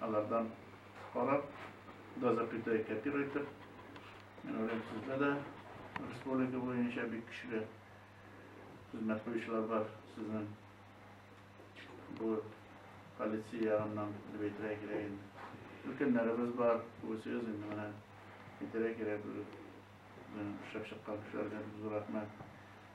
Алардан карап, да запятое копируйтер. Мен уйлыйм, сездә дә республика буенча бик көчле хезмәт куючылар бар. Сезнең бу полиция ягыннан дип әйтергә кирәк инде. Өлкәннәребез бар, үзегез инде менә әйтергә кирәк, шәп чыккан кешеләргә зур рәхмәт.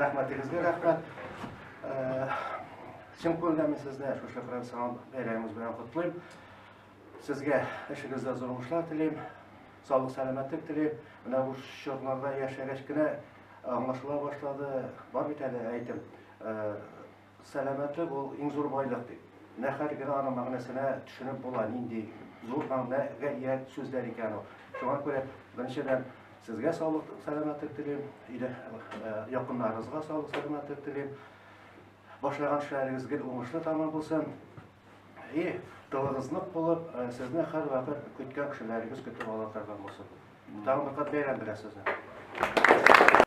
Рәхмәтегезгә рәхмәт. Чын күңелдән сезне шушы профессионал бәйрәмегез белән котлыйм. Сезгә эшегездә зур уңышлар телим, саулык сәламәтлек телим. Менә бу чорларда яшәгәч кенә аңлашыла башлады. Бар бит әле әйтем. Сәламәтлек ул иң зур байлык бит. Менә хәзер генә аның мәгънәсенә төшенеп була, нинди зур мәгънә гә ия сүзләр икән ул. Шуңа күрә, беренчедән, сезгә саулык, сәламәтлек телим, өйдә якыннарыгызга саулык, сәламәтлек телим. Башлаган эшләрегез гел уңышлы тәмам булсын. И тылыгыз нык булып, сезне һәрвакыт көткән кешеләрегез көтеп ала торган булсын. Тагын бер кат бәйрәм белән сезне!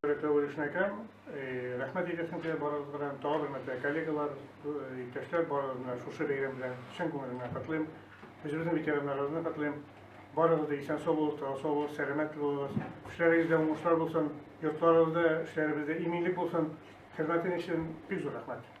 Рәтәү Вәлишнәкәм, рәхмәт әйтәсем килә барыгыз белән, тагы бер мәртәбә коллегалар, иптәшләр барыгызны шушы бәйрәм белән чын күңеленнән котлыйм. Үзебезнең ветераннарыбызны котлыйм. Барыгыз да исән-сау булыгыз, тагы сау булыгыз, сәламәт булыгыз. Эшләрегездә уңышлар булсын, йортларыгызда, эшләребездә иминлек булсын. Хезмәтең өчен бик зур рәхмәт.